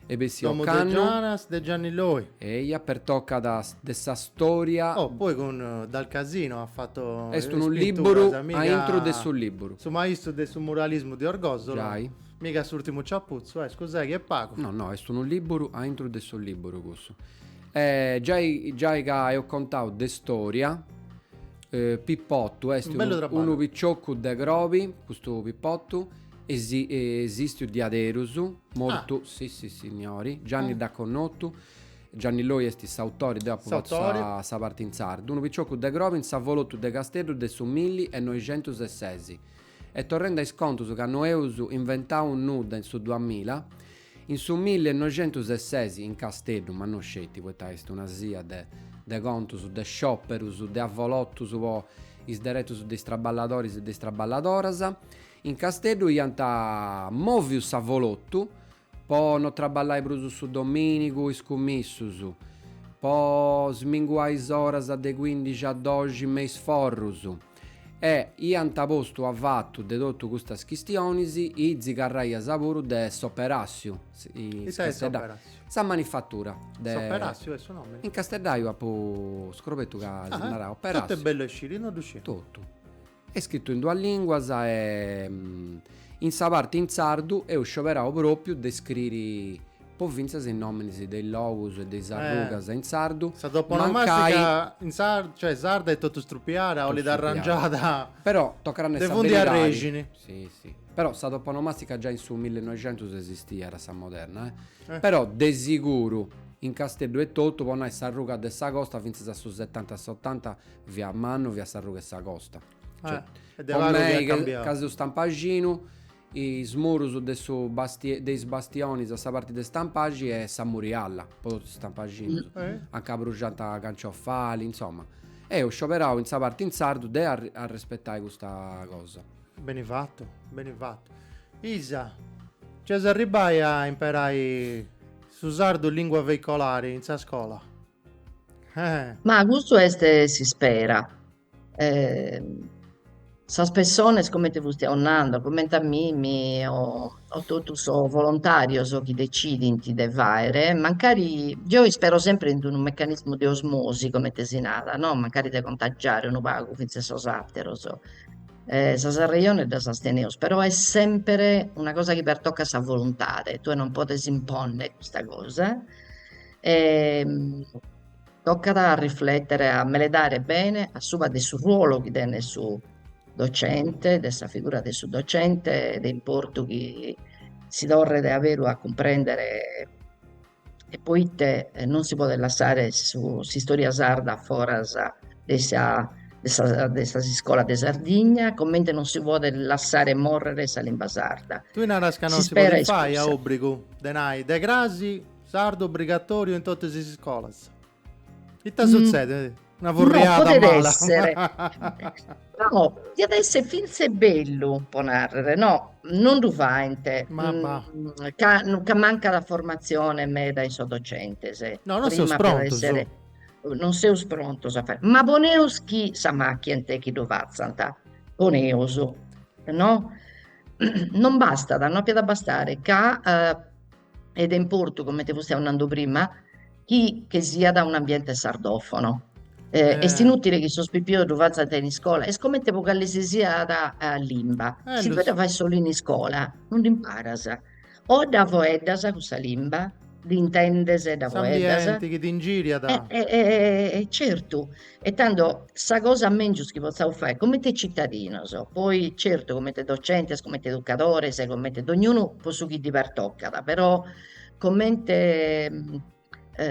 e bessiu ocannu. Domus de Janas de Gianni Loy. Eia, pertocat de sa storia. Oh, poi cun Del Casino at fatu is pinturas. Est unu libburu aintru de su libburu. Su maistu de su muralismu de Orgosolo. Giai. Miga s'urtimu ciapuzzu, eh, scusai chi est pagu. No, no, est unu liburu a intru de su liburu cussu. E giai, giai ca eus contau de storia, Pippottu est unu piccioccu de crobi, custu Pippottu, esistiu diaderus, mortu, si, sissignori, Gianni dd'at connottu, Gianni Loy est s'autori, deu apu fatu sa sa parti in sardu, unu piccioccu de crobi in s'avolottu de Casteddu de su milli e noixentus e sesi. E torrende a is contus ca no eus inventau nudda in su duamilla, in su milli e noixentus e ses in Casteddu, ma no sceti poita est una sia de de contus, de scioperus, de avolotus po is deretus de is traballadoris e de is traballadoras, in Casteddu iant moviu s'avolotu Po no traballai prus su domìnigu is cummissus. Po sminguai is oras de cuindixi a doxi me is forrus. E iant postu avatu de totu custas chistionis, is tzigarraias puru de s'operàssiu, Ita est s'operàssiu? Sa manifatura de. S'operàssiu est su nomini? In casteddaiu apu scrobetu ca si naràt operàssiu. Totu est bellu a sciri, no ddu sciu. Totu. Est scritu in duas lìnguas e in sa parte in sardu eus scioberau pròpiu de scriri po fintzas is nòminis de is logus e de is arrugas in sardu, Sa toponomàstica in sardu, cioè sarda, est totu strupiada, olit arrangiada Però tocat a nai sa beridadi. De fundu e arrexini. Si, si. Però sa toponomàstica giai in su millinoixentus esistiat a sa moderna, eh. Però de siguru in Casteddu etotu, po nai s'arruga de sa Costa fintzas a su setanta, s'otanta via Mannu, fiat s'arruga 'e sa Costa. Cioè, Est de po pagu chi mei at ca, cambiau. ca seu stampaxinu, is murus de su basti- de is bastionis a sa parti de Stampaxi est sa murialla, po totu is stampaxinus, Eh? a nca abruxant Canciofali, insoma. Eus scioberau in sa parti in sardu de arr- arrespetai custa cosa. Beni fatu, beni fatu. Isa, nc'eus a arribbai a imperai su sardu lingua veicolari in sa scola? Eh. Ma custu est s'ispera. Eh, sas pessones comente fustiu nando, comente a mimi o, o totu sos volontàrios chi decidint de fàere, mancari, deo ispero semper in unu mecanismu de osmosi, comente si narat no, mancari de contagiare unu pagu fintzas sos àteros, e sas arrejones ddas as teneus, però est semper una cosa chi pertocat sa voluntade, tue non podes imponnere custa cosa E tocat a riflètere, a meledare bene a suba de su ruolu chi tenet su docente, de sa figura de su docente, est de importu chi si torret a beru a cumprèndere e poite non si podet lassare su s'istòria sarda foras de sa de sa de sas iscolas de Sardigna, comente non si podet lassare morrere sa limba sarda. Tui naras ca non si podet fai a òbrigu de nai de cras Sardu obrigatoriu in totus is iscolas. Ita sutzedet? Mm. Una furriada no, mala. Essere. no, diat èssere finzas bellu, po narrere, no, non ddu faint. Ma va. Mm, ca, ca mancat formatzione meda in sos docentes. Eh. No, non seus prontos. Essere, non seus prontos a fàere. Ma poneus chi s'ammachient chi ddu fatzant. Poneus, no? Non bastat, no apiat a bastare ca... Uh, est de importu, comente fustiu nando prima, chi che siat un'ambiente sardofono. Eh, eh. Est inutile chi sos pipios ddu fatzant in iscola, est comente po cale si siat limba. Eh, si si fet a dda fai solu in iscola, non dd'imparas. O dda foeddas cussa limba, dd'intendes e dda foeddas. S'ambiente chi t'ingiriat. E, e, e, certu, E tando sa cosa mèngius chi potzaus fai comente citadinos, poi certu comente docentes, comente educadores e comente dognunu po su chi ddi pertocat, però comente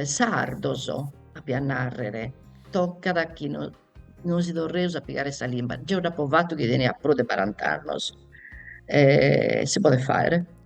sardos apia a nàrrere, tocat chi no no si torreus a pigare sa limba. Geo dd'apo fatu chi tenia prus de barant'annos e si podet fàere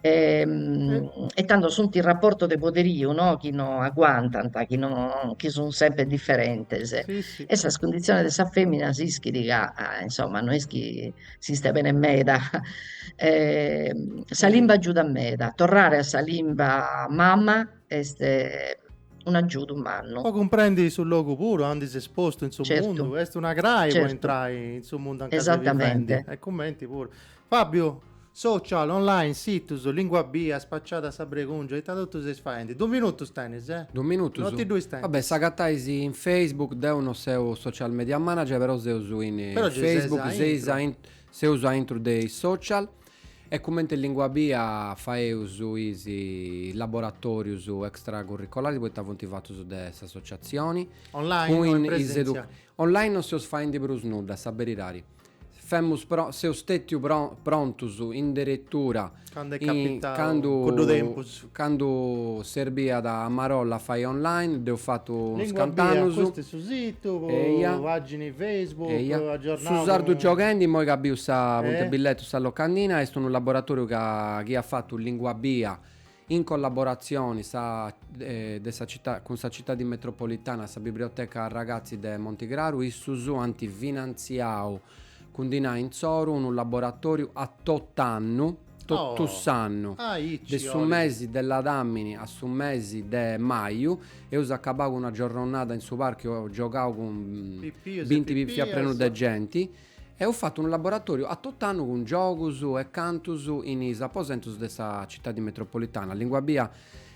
e tando sunt is raportos de poderiu no chi no aguantant, chi no chi sun sempre differentes e sas cunditziones de sa fèmina s'ischit ca insomma no est chi s'istet bene meda e sa limba agiudat meda, torrare a sa limba mama est un'agiudu mannu. Po cumprendi su logu puru aundi ses postu in su mundu, est una crai po intrai in su mundu anca ses bivendi e cumenti puru Fàbiu, Social, online, situs, lìngua bia, spaciada sa bregùngia, ita totu seis faendi? Duus minutus tenis, eh? Duus minutus? No ti ddu istentis. Va bè, s'agatais in Facebook, deu no seu social media manager, però seus in Facebook, seis a intru, seus a intru de is social e cumenti Lìngua Bia faeus is laboratorius extra curricolaris poita funt fatus de s'associatzioni. Online o in presentzia? Online no seus faendi prus nudda, a sa beridadi. Femus pro seus stètiu pro prontus in deretura. Candu est capitau cuddu tempus. Candu serbiat a marolla a fai online, dd'eus fatu unu scant'annus. Custu est su situ, pagini Facebook, aggiornau. Su Sardu Gioghendi, immoi ca biu sa punta 'e billetu, sa locandina, est unu laboratoriu ca chi at fatu Lìngua Bia In collaboratzioni sa de sa citadi cun sa citadi metropolitana sa Biblioteca Ragazzi de Monti Craru issus ant finantziau cun dinai intzoru unu laboratoriu a tot'annu totu s'annu de su mesi de ladamini a su mesi de maju eus acabau cun una giorronada in su parcu giogau cun binti pipias prenu de genti Eus fatu unu laboratoriu a tot'annu cun giogus e cantus in is aposentus de sa citadi metropolitana, Lìngua Bia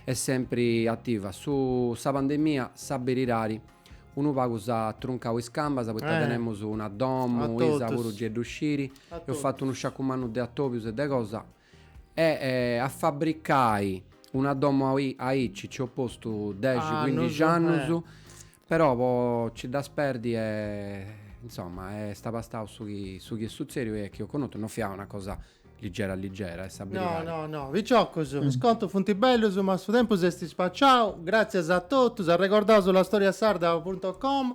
est sempri ativa, su sa pandemia sa beridadi unu pagu s'at truncau is cambas poita tenemus una domu Isa puru ge ddu scit, eus fatu unu sciacu mannu de atobius e de cosa. E a fabbricai una domo aici nci eus postu dexi cuindixi annus, però po nci dda sperdi e insomma est abastau su chi su chi est sutzèdiu e chi eus connotu, no fiat una cosa ligera ligera e sa No no no, piciocus, is contus funt bellus ma su tempus est spaciau, gràtzias a totus, arregordaus la storia sarda punto com